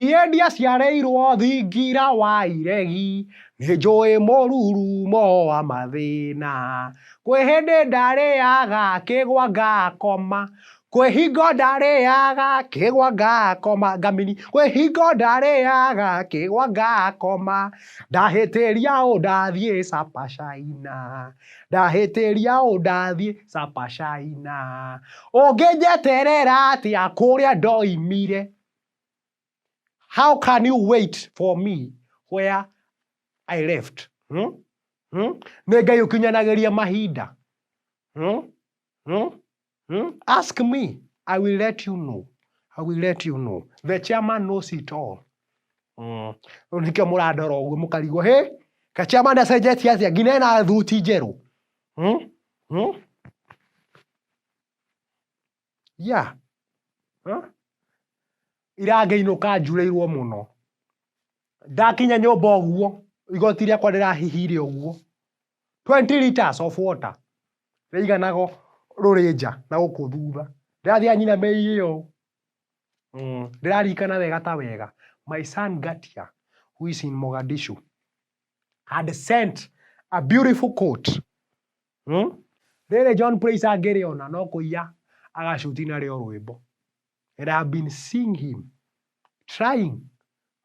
Niĩ ndiaciarĩirwo thingira wa iregi, nĩnjũĩ mũrurumo wa mathĩna. Kwĩ hĩndĩ ndarĩaga kĩgwa ngakoma, kwĩ hingo ndarĩaga kĩgwa ngakoma, ngamini, kwĩ hingo ndarĩaga kĩgwa ngakoma, ndahĩtĩria ũ ndathiĩ Supper China, ndahĩtĩria ũ ndathiĩ Supper China, ũngĩnjeterera atĩa kũrĩa ndoimire. How can you wait for me where I left? Hmm? Hmm? Nĩ Ngai ũkinyanagĩria mahinda. Hmm? Hmm? Hmm? Ask me, I will let you know. I will let you know. The chairman knows it all. Mm. Rĩu nĩkĩo mũrandora ũguo mũkarigwo, hey, ka chairman acenjetie atĩa nginya ena thuti njerũ. Hmm? Hmm? Yeah. Ira ngĩinũka njurĩirwo mũno. Ndakinya nyũmba ũguo, igoti rĩakwa rĩrahihire ũguo, twenty litres of water rĩaiganaga o rũrĩ nja na gũkũ thutha. Ndĩrathiĩ anyinamĩrĩire ũũ, ndĩraririkana wega ta wega, my son Ngatia who is in Mogadishu had sent a beautiful coat Hmm? Rĩrĩ John Praise angĩrĩona no kũiya agacuti narĩo rwĩmbo. And I have been seeing him trying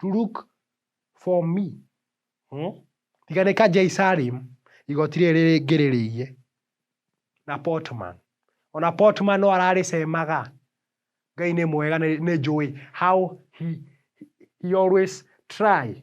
to look for me. Hmm? Tiga nĩ ka Jay Salim igoti rĩrĩ rĩngĩ rĩrĩiye na Portman. Ona Portman no ararĩcemaga. Ngai nĩ mwega nĩ nĩ njũĩ how he, he always try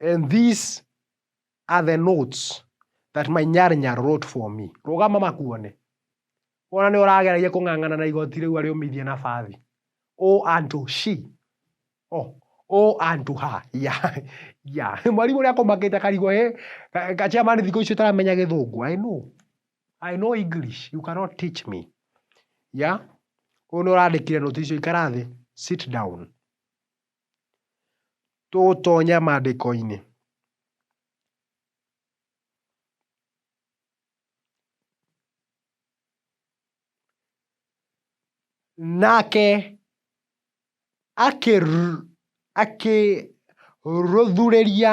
And these are the notes that my nyarinya wrote for me. Rũgama makuone. Wona nĩ ũrageragia kũng'ang'ana na igoti rĩu arĩũmithie na bathi. O unto she. Oh, o unto her. Yeah. Yeah. Mwarimũ ũrĩa akũmakĩte karigwa eh. Ka- ka- Chairman thikũ icio taramenya gĩthũngũ. I know. I know English. You cannot teach me. Yeah. Ũyũ nĩ ũrandĩkire nũti icio ikara thĩ. Sit down. Tũgũtonya maandĩko-inĩ. Nake akĩrũthũrĩria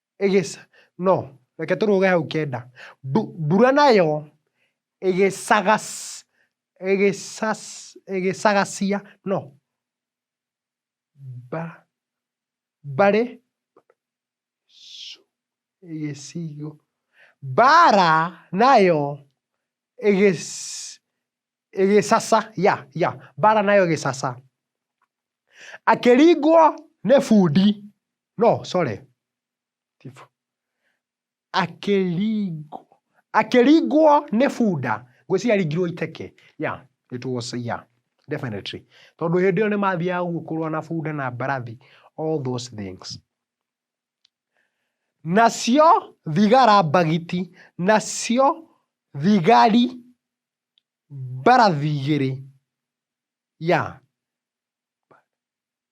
ĩgĩc, no, reke tũrũge hau kenda, mbu, mbura nayo ĩgĩcagac, ĩgĩcac, ĩgĩcagacia, no, mba, mbarĩ, ci, ĩgĩcigo, mbara nayo ĩgĩc, ĩgĩcaca ya ya mbara nayo ĩgĩcaca. Akĩringwo nĩ bundi no sorry akĩringwo akĩringwo nĩ bunda ngwĩciria aringirwo iteke ya it was ya definitely tondũ hĩndĩ ĩyo nĩmathiaga ũguo kũrũa na bunda na mbarathi all those things. Nacio thigara mbagiti nacio thigari Mbarathi igĩrĩ, ya,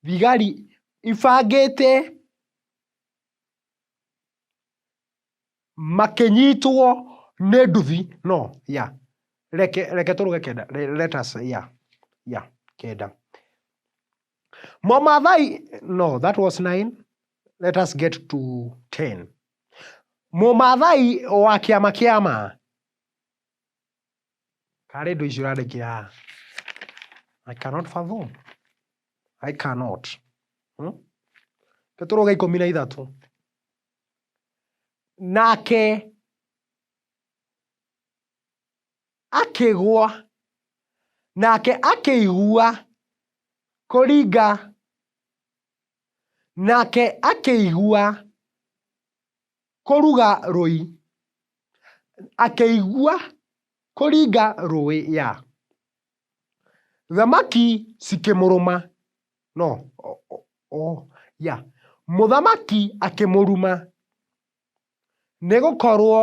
thigari ibangĩte makĩnyitwo nĩ nduthi, no, ya, reke reke tũrũge kenda, let us, ya, ya, kenda. Mũmaathai, no, that was nine, let us get to ten. Mũmaathai wa kĩama kĩa ma. Kana rĩ ndũ icio ũrandĩkĩra haha? I cannot fathom. I cannot. Hmm? Tũtũrwo ga ikũmi na ithatũ. Nake akĩgwa nake akĩigua kũringa nake akĩigua Kũruga rũi. Akĩigua kũringa rũĩ ya. Thamaki cikĩmũrũma. No ooh ya. Mũthamaki akĩmũruma nĩgũkorwo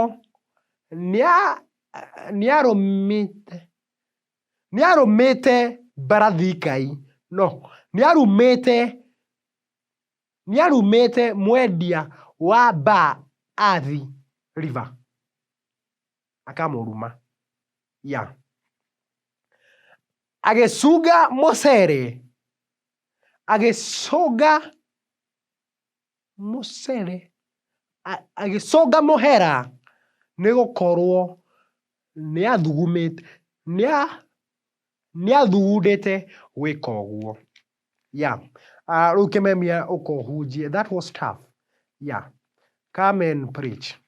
nĩa nĩarũmĩte nĩarũmĩte mbarathi ngai no nĩarumĩte. Nĩarumĩte mwendia wa baa Athi river akamũruma yeah. Agĩcunga mũcere agĩcunga mũcere a- agĩcunga mũhera nĩgũkorwo nĩathugumĩte nĩa nĩathugundĩte gwĩka ũguo. Yeah. Uh, rĩu kĩmemia ũkohunjie. That was tough. Yeah. Come and preach.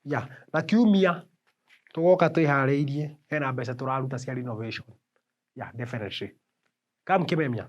Yeah. Na kiumia tũgoka twĩharĩirie hena mbeca tũraruta cia renovation. Yeah, definitely. Come kĩmemia.